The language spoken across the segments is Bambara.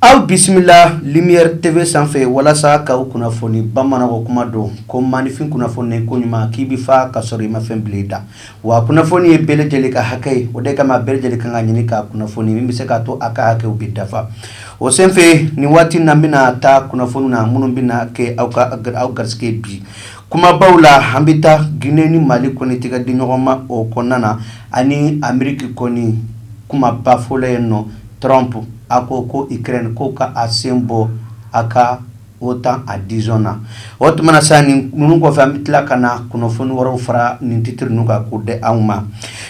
Aw bisimila lumière T V sanfɛ walasa k'aw kunnafoni bamananw ka kuma don, ko maanifin kunnafoni ko ɲuman k'i bɛ fa ka sɔrɔ i ma fɛn bila i da, wa kunnafoni ye bɛɛ lajɛlen ka hakɛ ye, o de kama bɛɛ lajɛlen ka kan ka ɲini k'a kunnafoni min bɛ se k'a to a ka hakɛw bɛ dafa, o senfɛ nin waati in na n bɛna taa kunnafoni na minnu bɛna kɛ aw ka aw garisɛgɛ ye bi kumabaw la, an bɛ taa Guinée ni Mali kɔni tɛgɛ di ɲɔgɔn ma o kɔnɔna na ani Amérique kɔni kumaba fɔlɔ ye nɔ Trump a ko ko Ukraine ko ka a sen bɔ a ka OTAN adhésion na o tuma na sa nin ninnu kɔfɛ an bɛ tila ka na kunnafoni wɛrɛw fara nin titiri ninnu kan k'u di aw ma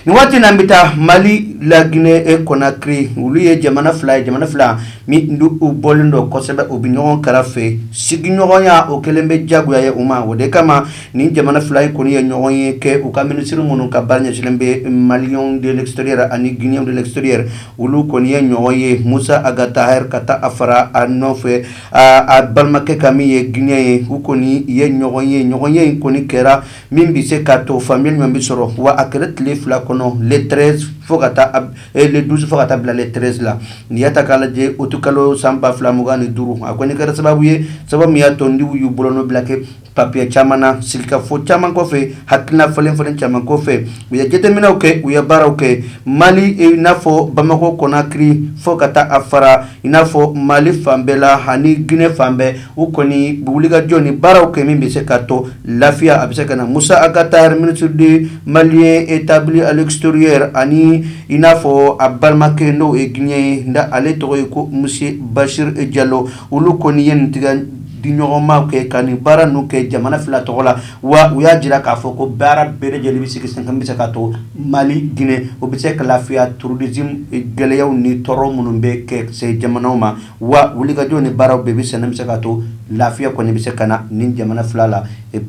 nin waati na an bɛ taa mali laginɛ e Konakiri olu ye jamana fila ye jamana fila min don u bɔlen don kosɛbɛ u bɛ ɲɔgɔn kɛrɛfɛ sigiɲɔgɔnya o kɛlen bɛ jagoya ye u ma o de kama Nin jamana fila in kɔni ye ɲɔgɔn ye kɛ u ka minisiri minnu ka baara ɲɛsinlen bɛ Maliens de l'extérieur ani Guinéens de l'extérieur olu kɔni ye ɲɔgɔn ye Musa Ag Attaher ka taa a fara a nɔfɛ a balimakɛ ka min ye Guinéen ye u kɔni ye ɲɔgɔn ye ɲɔgɔn ye in kɔni kɛra min bɛ se ka to faamuya ɲuman bɛ sɔrɔ wa a kɛra tile fila kɔnɔ le treize fo ka taa le douze fo ka taa bila le treize la n'i y'a ta k'a lajɛ utikalo san ba fila mugan ni duuru a kɔni kɛra sababu ye sabu min y'a to ninnu y'u bolonɔ bila kɛ Papiye caman na sigikafɔ caman kɔfɛ hakilina falen falen caman kɔfɛ u ye jateminɛw kɛ u ye baaraw kɛ Mali i n'a fɔ Bamakɔ Konakiri fo ka taa a fara i n'a fɔ mali fan bɛɛ la ani Guinée fan bɛɛ u kɔni wulikajɔ ni baaraw kɛ min bɛ se ka to lafiya a bɛ se ka na Musa Ag Attaher ministre des Maliens établis à l'extérieur ani i n'a fɔ a balimakɛ n'o ye Guinéen ye nka ale tɔgɔ ye ko monsieur Bachir Diallo olu kɔni ye tɛgɛ di ɲɔgɔnma kɛ ka nin baara ninnu kɛ jamana fila tɔgɔ la wa u y'a jira k'a fɔ ko baara bɛɛ lajɛlen bɛ sigi sen kan bɛ se ka to Mali Guinée o bɛ se ka lafiya terrorisme gɛlɛyaw ni tɔɔrɔ minnu bɛ kɛ se jamanaw ma wa wulikajɔ ni baaraw bɛɛ bɛ sen na bɛ se ka to lafiya kɔni bɛ se ka na nin jamana fila la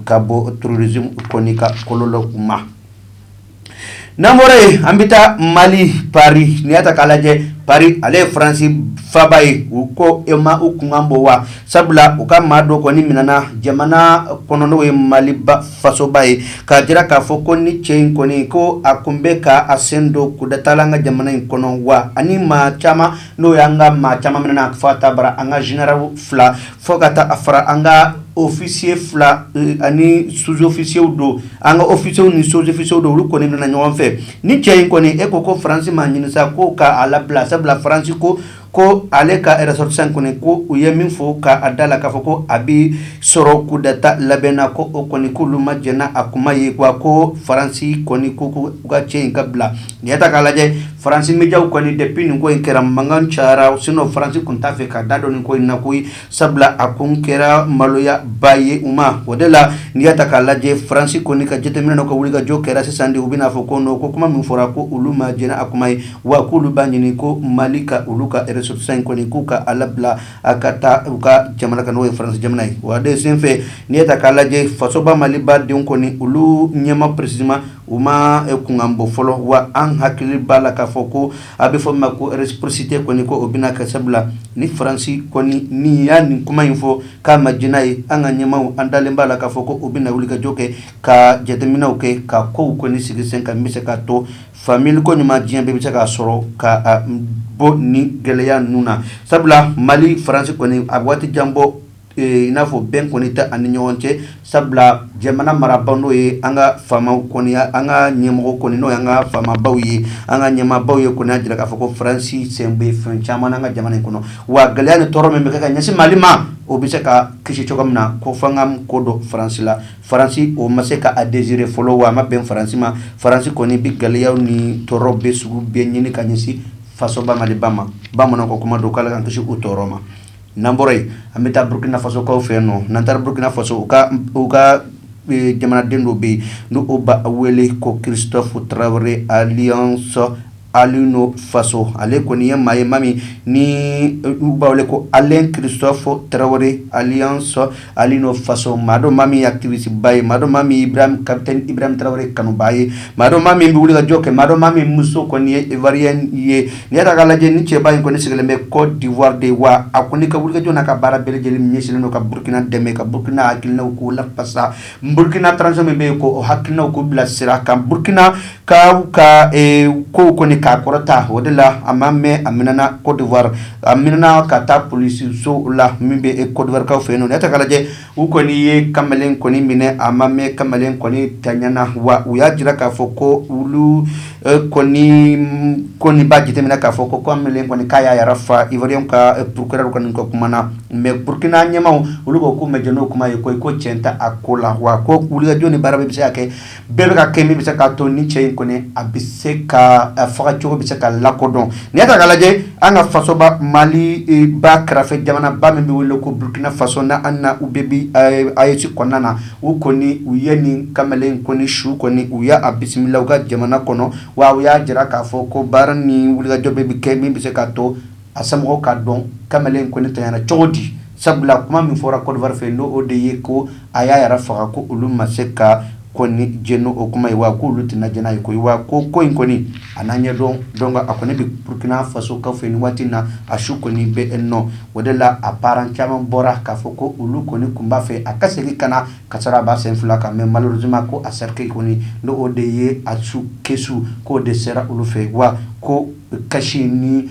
ka bɔ terrorisme kɔni ka kɔlɔlɔw ma n'an bɔra yen an bɛ taa Mali Paris n'i y'a ta k'a lajɛ Paris ale ye faransi faaba ye u ko e ma u kunkan bɔ wa sabula u ka maa dɔ kɔni minɛna jamana kɔnɔ n'o ye mali fasoba ye k'a jira k'a fɔ ko nin cɛ in kɔni ko a tun bɛ ka a sen don kudeta la an ka jamana in kɔnɔ wa ani maa caman n'o y'an ka maa caman minɛna fo ka taa fara an ka généraux fila Fo ka taa a fara an ka officier fila ani sous-officiers dɔw an ka officiers ni sous-officiers dɔw olu kɔni minɛna ɲɔgɔn fɛ ni cɛ in kɔni e ko ko faransi ma ɲini sa ko k'a labila sabula faransi ko ko ale ka ressortissant kɔni ko u ye min fɔ k'a da la k'a fɔ ko a bɛ sɔrɔ kudeta labɛn na ko o kɔni k'olu ma jɛn n'a kuma ye wa ko faransi kɔni ko ko u ka cɛ in ka bila N'i y'a ta k'a lajɛ Faransi mediaw kɔni depuis nin ko in kɛra mankan cayara sinon Faransi tun t'a fɛ k'a da don nin ko in na koyi sabula a kun kɛra maloya ba ye u ma o de la n'i y'a ta k'a lajɛ Faransi kɔni ka jateminɛ n'u ka wulikajɔ kɛra sisan de u bɛna fɔ ko non ko kuma min fɔra ko olu ma jɛn n'a kuma ye wa k'olu b'a ɲini ko Mali ka olu ka ressortissant kɔni k'u ka a labila a ka taa u ka jamana kan n'o ye Faransi jamana ye o de senfɛ n'i y'a ta k'a lajɛ fasoba Maliba denw kɔni olu ɲɛmaaw précisément U ma kunkan bɔ fɔlɔ wa an hakili b'a la k'a fɔ ko a bɛ fɔ ma ko réciprocité kɔni ko o bɛna kɛ sabula ni faransi kɔni ni ye nin kuma in fɔ k'a ma jɛn n'a ye an ka ɲɛmaaw an dalen b'a la k'a fɔ ko u bɛna wulikajɔ kɛ ka jateminɛw kɛ ka kow kɔni sigi sen kan bɛ se ka to fa mi ko ɲuman diɲɛ bɛɛ bɛ se k'a sɔrɔ ka bɔ ni gɛlɛya ninnu na sabula mali faransi kɔni a waati jan bɔ I n'a fɔ bɛn kɔni tɛ an ni ɲɔgɔn cɛ sabula jamana marabagaw n'o ye an ka faamaw kɔni an ka ɲɛmɔgɔ kɔni n'o ye an ka faamabaw ye an ka ɲɛmaabaw ye kɔni y'a jira k'a fɔ ko faransi sen bɛ fɛn caman an ka jamana in kɔnɔ wa gɛlɛya ni tɔɔrɔ min bɛ ka ɲɛsin mali ma o bɛ se ka kisi cogo min na ko f'an ka kɔdon faransi la faransi o ma se k'a digérer fɔlɔ wa a ma bɛn faransi ma faransi kɔni bɛ gɛlɛya ni tɔɔrɔ bɛɛ sugu bɛɛ ɲini ka ɲɛsin fasoba maliba ma bamanan ko kuma don k'Ala k'an kisi o tɔɔrɔ ma n'an bɔra yen an bɛ taa burukina fasokaw fɛ yen nɔ n'an taara burukina faso u ka jamanaden dɔ bɛ yen n'u b'a wele ko Christophe Traoré alias Alino Faso ale kɔni ye maa ye maa min n'u b'a wele ko Alain Christophe Traoré alias Alino Faso maa don maa min ye activisteba ye maa don maa min capitaine Ibrahim Traoré kanubaa ye maa don maa min bɛ wulikajɔ kɛ maa don maa min muso kɔni ye ivoirienne ye n'i y'a ta k'a lajɛ nin cɛba in kɔni sigilen bɛ kɔdiwari de wa a kɔni ka wulikajɔ n'a ka baara bɛɛ lajɛlen ɲɛsinnen don ka burukina dɛmɛ ka burukina hakilina k'o lafasa burukina transition min bɛ yen k'o hakilina k'u bilasira ka burukina ka ko kɔni k'a kɔrɔta o de la a ma mɛn a minɛna kɔdiwari a minɛna ka taa polisiso la min bɛ kɔdiwarikaw fɛ yen n'i y'a ta k'a lajɛ u kɔni ye kamalen kɔni minɛ a ma mɛn kamalen kɔni ntanyana wa u y'a jira k'a fɔ ko olu kɔni b'a jateminɛ k'a fɔ ko kamalen kɔni k'a y'a yɛrɛ faa ivoirienw ka procureur kɔni ka kuma na mais burukina ɲɛmaaw olu ko k'u ma jɛn n'o kuma ye ko i ko cɛn t'a ko la wa ko wulikajɔ ni baara bɛ se ka kɛ bɛɛ bɛ ka kɛ min bɛ se k'a to nin cɛ in kɔni a bɛ se ka fagacogo bɛ se ka lakodɔn n'i y'a ta k'a lajɛ an ka fasoba maliba kɛrɛfɛ jamanaba min bɛ wele ko burukina faso na an ni u bɛ bi AES kɔnɔna na u kɔni u ye nin kamalen kɔni su kɔni u ye a bisimila u ka jamana kɔnɔ wa u y'a jira k'a fɔ ko baara ni wulikajɔ bɛɛ bɛ kɛ min bɛ se k'a to A somɔgɔw k'a dɔn kamalen kɔni tayana cogo di sabula kuma min fɔra Côte d'Ivoire fɛ n' o de ye ko a y'a yɛrɛ faga ko olu ma se ka kɔni jɛn n'o kuma ye wa k' olu tɛna jɛn n'a ye ko wa ko ko in kɔni a n'an ɲɛ dɔn dɔn a kɔni bɛ Burkina Faso kaw fɛ nin waati na a su kɔni bɛ yen o de la a parents caman bɔra k'a fɔ ko olu kɔni tun b'a fɛ a ka segin ka na ka sɔrɔ a b'a sen fila kan mais malheureusement ko a cercueil kɔni n' o de ye a su kɛsu k'o de sera olu fɛ yen wa ko Kasi ni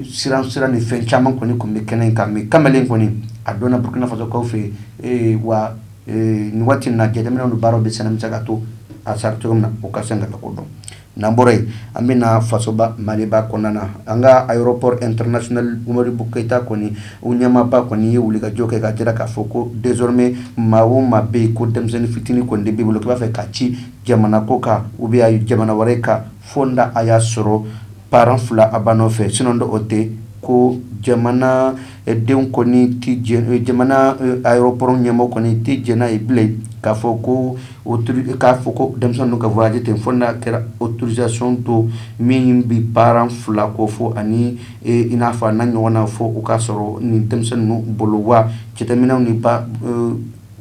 siran siran ni fɛn caman kɔni tun bɛ kɛnɛ in kan mais kamalen kɔni a donna Burkina Faso kaw fɛ yen wa nin waati na jateminɛ ni baara bɛ senna min se ka to a sara cogo min na u ka se k'a ko dɔn n'an bɔra yen an bɛ na fasoba maliba kɔnɔna na an ka aéroport international Modibo Keyita kɔni u ɲɛmaaba kɔni ye wulikajɔ kɛ k'a jira k'a fɔ ko désormais maa o maa bɛ yen ko denmisɛnnin fitinin kɔni de b'i bolo k'i b'a fɛ k'a ci jamana kɔkan ou bien jamana wɛrɛ kan Fo n'a y'a sɔrɔ parents fila a b'a nɔfɛ sinon n'o tɛ ko jamana denw jamana aéroport ɲɛmɔgɔ kɔni tɛ jɛn n'a ye bilen k'a fɔ ko o k'a fɔ ko denmisɛnnin ka voyager ten fo n'a kɛra autorisation don min bɛ parents fila kofɔ ani i n'a fɔ a n'a ɲɔgɔnna fo o ka sɔrɔ nin denmisɛnnin bolo wa jateminɛw ni ba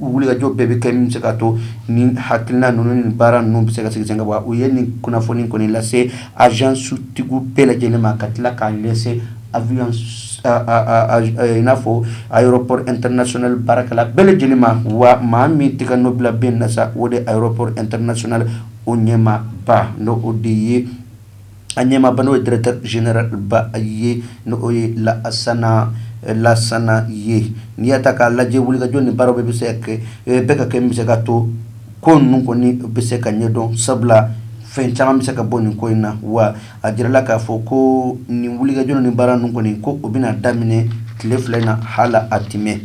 u wulikajɔ bɛɛ bɛ kɛ min se ka to ni hakilina ninnu ni baara ninnu bɛ se ka sigi sen kan wa u ye nin kunnafoni kɔni lase agence tigiw bɛɛ lajɛlen ma ka tila k'a lase i n'a fɔ aéroport international baarakɛla bɛɛ lajɛlen ma wa maa min tɛgɛnɔ bila bɛ nin na sa o de aéroport international o ɲɛmaaba n' o de ye a ɲɛmaaba n'o ye directeur généralba ye n'o ye Lasana ye n'i y'a ta k'a lajɛ wulikajɔ ni baara bɛɛ bɛ se kɛ bɛ ka kɛ min bɛ se ka to ko ninnu kɔni bɛ se ka ɲɛdɔn sabula fɛn caman bɛ se ka bɔ nin ko in na wa a jirala k'a fɔ ko nin wulikajɔ ni baara ninnu kɔni ko o bɛna daminɛ tile fila in na hali a tɛ mɛɛn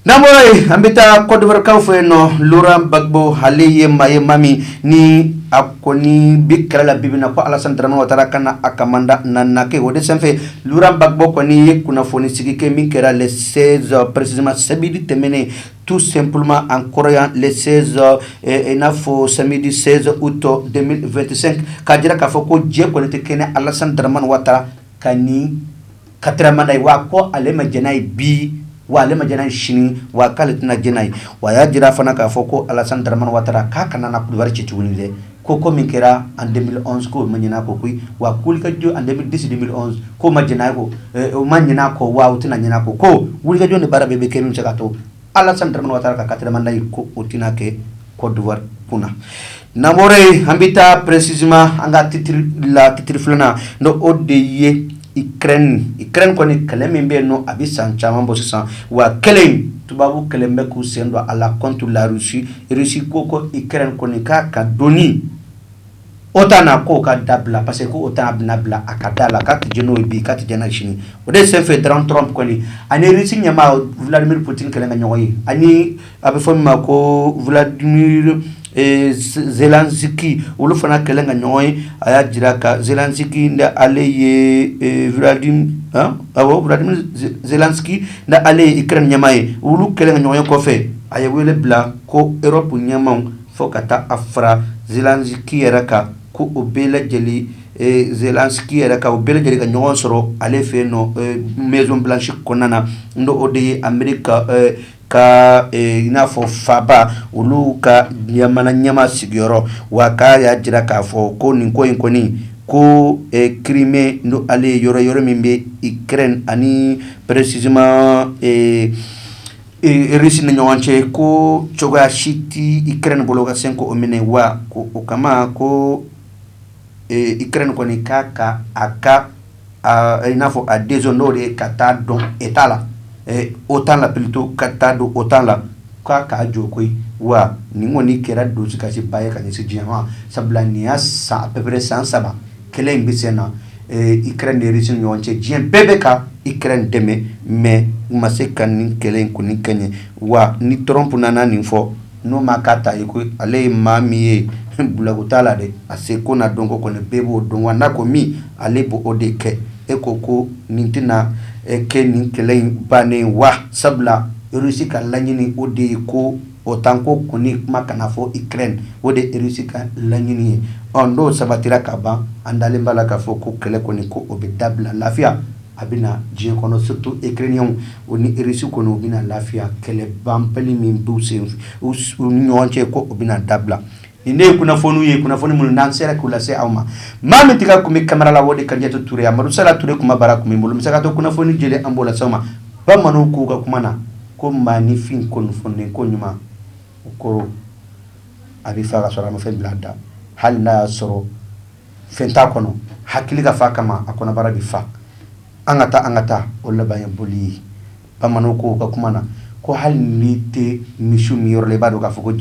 N'an bɔra yen an bɛ taa kɔdiwakaw fɛ yen nɔ ra bato ale ye maa ye ma min ni a ko ni bi kɛlɛ la bi na ko ala dɔrɔnmɔgɔ taara ka na a ka da na kɛ o de sanfɛ bato kɔni ye kunnafoni sigi kɛ min kɛra lɛsɛsɔn presidiman sababidi tɛmɛnen tu senpma an kɔrɔya lɛsɛsɔn in n'a fɔ sabidi sɛson utɔ2te ka jira k'a fɔ ko jɛ kɔnite kɛnɛ alaz dɔrɔnmani waa ka nin karamada ye wa ko ale ma j ye bi wa ale ma j sini wa k'ale tɛna j ye wa a y'a jira fana k'a fɔ ko alasara waa k'a kana na kuli ci tuguni dɛ ko ko min kɛra an denmisɛn ma ɲɛna ko koyi wa ko ka jo an disi de ko ma jɛnɛ ko o ma ɲɛna ko wa tɛna ɲɛna ko ko wulikajɔ ni baara bɛ bɛ kɛ min cɛ ka to Alassane Dramane Ouattara ka quatrième mandat ye ko o tɛna kɛ Côte d'Ivoire kun na n'an bɔra yen an bɛ taa précisément an ka titiri la titiri filanan n'o de ye Ukraine Ukraine kɔni kɛlɛ min bɛ yen nɔ a bɛ san caman bɔ sisan wa kɛlɛ in tubabu kɛlen bɛ k'u sen don a la contre la Russie Russie ko ko Ukraine kɔni k'a ka donni OTAN na ko ka dabila parce que OTAN bɛna bila a ka da la ka tɛ n'o bi ka tɛ jɛnɛ sini o de senfɛ Trump Trump kɔni ani Russie ɲɛmaa Vladimir Poutine kɛlen ka ɲɔgɔn ye ani a bɛ fɔ min ma ko Vladimir Zelensky olu fana kɛlen ka ɲɔgɔn ye a y'a jira ka Zelensky n'ale ye Vladi ni ale ye Ukraine ɲɛmaa ye olu kɛlen ka ɲɔgɔn ye kɔfɛ a ye wele bila ko Europe ɲɛmaw Fo ka taa a fara Zelensky yɛrɛ kan ko o bɛɛ lajɛlen Zelensky yɛrɛ kan u bɛɛ lajɛlen ka ɲɔgɔn sɔrɔ ale fɛ yen nɔ Maison Blanche kɔnɔna na n'o de ye Amérique ka i n'a fɔ faba olu ka jamana ɲɛmaa sigiyɔrɔ wa k'a y'a jira k'a fɔ ko nin ko in kɔni ko Crimée n'ale ye yɔrɔ yɔrɔ min bɛ Ukraine ani préci Russie ni ɲɔgɔn cɛ ko cogoya si tɛ Ukraine bolo ka segin k'o minɛ wa ko o kama ko Ukraine kɔni k'a ka a ka i n'a fɔ a décision n'o de ye ka taa don état la OTAN la plutôt ka taa don OTAN la k'a k'a jɔ koyi wa nin kɔni kɛra dusukasi ba ye ka ɲɛsin diɲɛ ma sabula nin y'a san à peu près san saba kɛlɛ in bɛ sen na Ukraine ni Russie ni ɲɔgɔn cɛ diɲɛ bɛɛ bɛ ka Ukraine dɛmɛ mais u ma se ka nin kɛlɛ in kɔni kɛɲɛ wa ni Trump nana nin fɔ n'o ma ka ta yen ko ale ye maa min ye blague t'a la dɛ a seko n'a dɔnko kɔni bɛɛ b'o dɔn wa n'a ko min ale b'o de kɛ e ko ko nin tɛna kɛ nin kɛlɛ in bannen wa sabula Russie ka laɲini o de ye ko OTAN ko kɔni kuma kana fɔ Ukraine o de Russie ka laɲini ye ɔ n'o sabatira ka ban an dalen b'a la k'a fɔ ko kɛlɛ kɔni ko o bɛ dabila lafiya a bɛ na diɲɛ kɔnɔ surtout Ukrainienw ni Russie kɔni u bɛna lafiya kɛlɛ banbali min bɛ sen u ni ɲɔgɔn cɛ ko o bɛna dabila nin de ye kunnafoniw ye kunnafoni minnu n'an sera k'u lase aw ma maa min tigɛ tun bɛ kamera la o de Kadiatou Touré a Amadou Sala Touré kuma bara tun bɛ n bolo misato kunnafoni jɛlen an b'o lase aw ma bamananw k'u ka kuma na ko maa nifin ko kunnafoni ko ɲuman o koro a bɛ fa ka sɔrɔ a ma fɛn bila a da hali n'a y'a sɔrɔ fɛn t'a kɔnɔ hakili ka fa kama a kɔnɔbara bɛ fa an ka taa an ka taa o laban ye boli ye bamananw k'u ka kuma na ko hali n'i tɛ misi min yɔrɔ i b'a dɔn k'a fɔ ko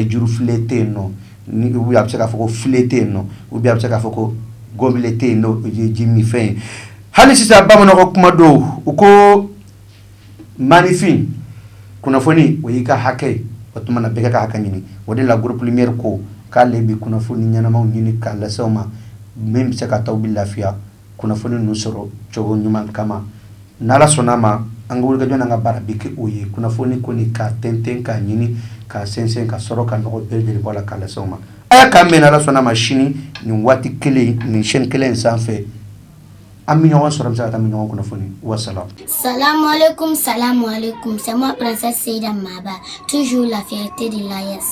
jurufilen tɛ yen nɔ ni a bɛ se k'a fɔ ko filen tɛ yen nɔ u bɛ se k'a fɔ ko gɔnbile tɛ yen n'o ye ji min fɛn ye hali sisan bamananw ka kuma don u ko maaninfin kunnafoni o y'i ka hakɛ ye o tuma na bɛɛ k'a ka hakɛ ɲini o de la groupe lumière ko k'ale bɛ kunnafoni ɲɛnamaw ɲini k'a lase aw ma min bɛ se ka t'aw bɛ lafiya kunnafoni ninnu sɔrɔ cogo ɲuman kama n'ala sɔnna a ma an ka wulikajɔ n'an ka baara bɛ kɛ o ye kunnafoni kɔni k'a tɛntɛn k'a ɲini k'a sɛnsɛn ka sɔrɔ ka nɔgɔ bɛɛ lajɛlen bɔ a la k'a lase aw ma a k'a mɛn n'ala sɔnna a ma sini nin waati kelen nin chaîne kelen in sanfɛ an bɛ ɲɔgɔn sɔrɔ an bɛ se ka ɲɔgɔn kunnafoni wasalaam sa kun sa kun se ma tu lafiya tɛ de la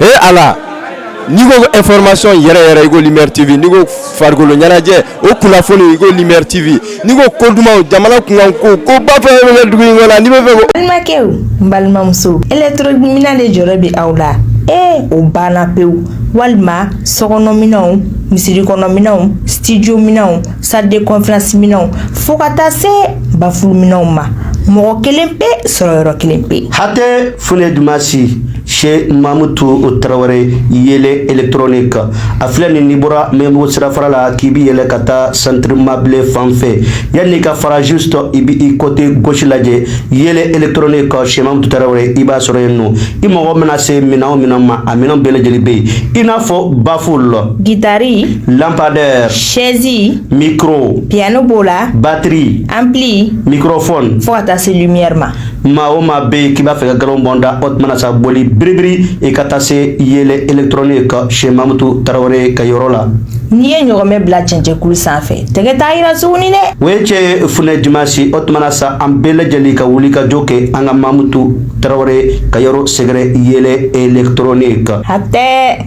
e ala n'i ko information yɛrɛ yɛrɛ i ko Lumière TV n'i ko farikolo ɲɛnajɛ o kunnafoni i ko Lumière TV n'i ko ko dumanw jamana kunkanko koba fɛn fɛn bɛ kɛ dugu in kɔnɔ n'i bɛ fɛ ko. balimakɛw n balimamuso électrominɛn de jɔrɔ bɛ aw la ee o banna pewu walima sokɔnɔminɛnw misiri kɔnɔminɛnw studio minɛnw salle de conférence minɛnw fo ka taa se bafulu minɛnw ma mɔgɔ kelen pe sɔrɔ yɔrɔ kelen pe. hatɛ funɛ dumasi. Sɛ mamu to o tarawele yɛlɛ etrnen kan a filɛ nin ni bɔra mɛbɔ sira fara la k'i bɛ yɛlɛ ka taa sanribablen fan fɛ yan n'i ka farazo sɔrɔ i bɛ i kɔte gsi lajɛ yɛlɛ etrnen kan sɛma tarawele i b'a sɔrɔ yen nɔ i mɔgɔ bɛna se minɛn min ma a minɛn bɛɛ lajɛlen bɛ yen i n'a fɔ bafo la gitari lapadɛ sɛzi miro pyanana b'o la batiri an bi miro fɔ fo ka taa se ma maa o maa bɛ yen k'i b'a fɛ ka galon bɔn da o tuma na sa boli biribiri i ka taa se yeelen électronique chez mamutu tarawele ka yɔrɔ la n'i ye ɲɔgɔmɛ bila cɛncɛnkulu sanfɛ tɛgɛ t'a yira tuguni dɛ o ye cɛn ye funɛ dimasi o tuma na sa an bɛɛ lajɛlen ka wulikajɔ kɛ an ka mamutu tarawele ka yɔrɔ sɛgɛrɛ yeelen électronique hatɛ